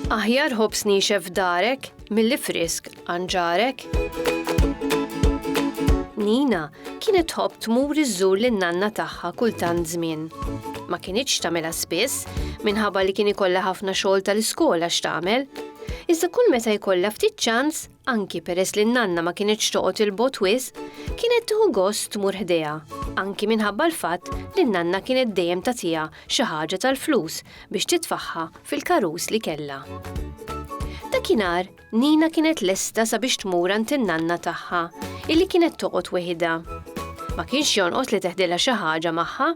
Aħjar ħobs nixef f'darek milli frisk għanġarek. Nina kienet tħobb tmur iżżur lin nanna tagħha kull tant żmien. Ma kinitx tagħmilha spiss minħabba li kien ikollha ħafna xogħol tal-iskola x'tagħmel. Iżda kull meta jkollha ftit ċans Anki peress li n-nanna ma kinitx toqgħod 'il bogħod wisq, kienet tieħu gost tmur ħdejha, anki minħabba l-fatt li n-nanna kienet dejjem tagħtiha xi ħaġa tal-flus biex titfagħha fil-karus li kellha. Dakinhar, Nina kienet lesta sabiex tmur għand in-nanna tagħha, illi kienet toqgħod weħidha. Ma kienx jonqos li teħdilha xi ħaġa magħha.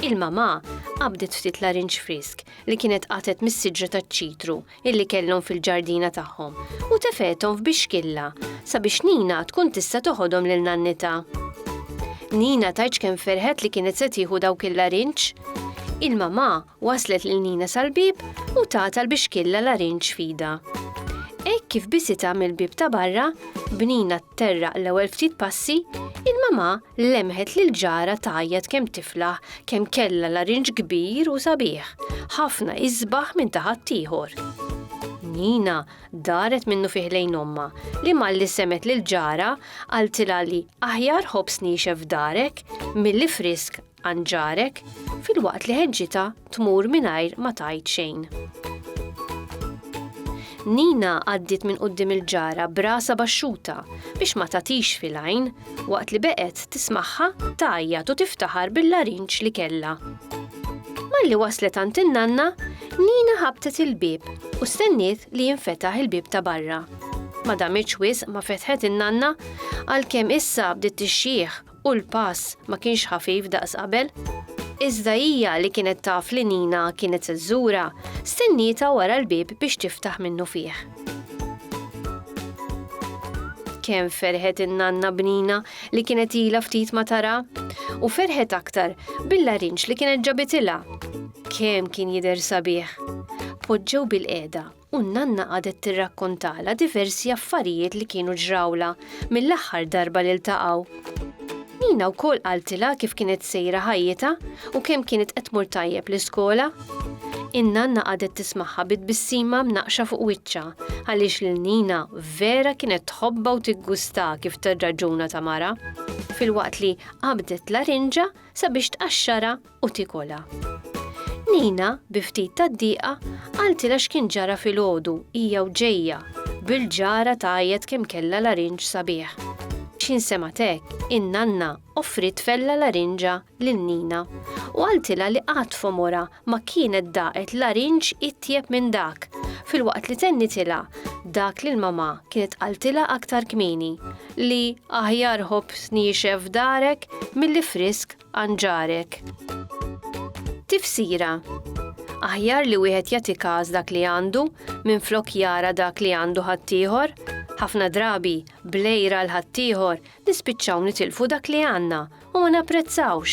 Il-mamà qabdet ftit larinġ frisk li kienet qatet mis-siġra taċ-ċitru illi kellhom fil-ġardina tagħhom u tefgħethom f'bixkilla sabiex Nina tkun tista' toħodhom lil nannitha. Nina tgħidx kemm ferħet li kienet se tieħu dawk il-larinġ. Il-mamà waslet lil Nina sal-bieb u tata l-bixkilla larinġ fida. Hekk kif bisitha mill-bieb ta' barra, b'Nina tterraq l-ewwel ftit passi, il-mamà lemħet lil ġara tgħajjat kemm tiflaħ kemm kellha larinġ kbir u sabiħ, ħafna isbaħ minn ta' ħaddieħor. Nina daret minnu fih lejn ommha, li malli semgħet lil ġarha qaltilha li aħjar ħobż niexef f'darek milli frisk għand ġarek, filwaqt li ħeġġitha tmur mingħajr ma tgħid xejn. Nina għaddiet minn quddiem il-ġara b'rasha baxxuta biex ma tagħtix fil-għajn, waqt li beqgħet tismagħha tgħajjat u tiftaħar bil-larinġ li kellha. Malli waslet għand in-nanna, Nina ħabtet il-bieb u stenniet li jinfetaħ il-bieb ta' barra. Ma damitx wisq ma fetħet in-nanna għalkemm issa bdiet tixxieħ u l-pass ma kienx ħafif daqs qabel. Iżda hija li kienet taf li Nina kienet se żżura, stennietha wara l-bieb biex tiftaħ minnu fih. Kemm ferħet in-nanna bnina li kienet ilha ftit ma tara, u ferħet aktar bil-larinġ li kienet ġabitilha. Kemm kien jidher sabiħ. Poġġew bil-qiegħda u n-nanna qadet tirrakkontala diversi affarijiet li kienu ġrawla mill-aħħar darba li ltaqgħu. Nina wkoll qaltilha kif kienet sejra ħajjitha u kemm kienet qed tmur tajjeb l-iskola. In-nanna qagħdet tismagħha bi tbissima mnaqqxa fuq wiċċha għaliex lil Nina vera kienet tħobbha u tiggustha kif tirraġuna ta' mara filwaqt li qabdet larinġa sabiex tqaxxarha u tikolha. Nina, bi ftit ta' dieqa, qaltilha x'kien ġara filgħodu, hija u ġejja, bil-ġara tgħajjat kemm kellha larinġ sabiħ. X'ħin semgħet hekk, in-nanna offriet tfel la larinġa lil Nina u qaltilha li qatt f'għomorha ma kienet daqet larinġ itjeb minn dak, filwaqt li tennitilha dak li l-mamà kienet qaltilha aktar kmieni, li aħjar ħobż niexef f'darek milli frisk għand ġarek. Tifsira, Aħjar li wieħed jagħti każ dak li għandu minflok jara dak li għandu ħaddieħor, ħafna drabi blejra l ħaddieħor nispiċċaw nitilfu dak li għandna u ma napprezzawx.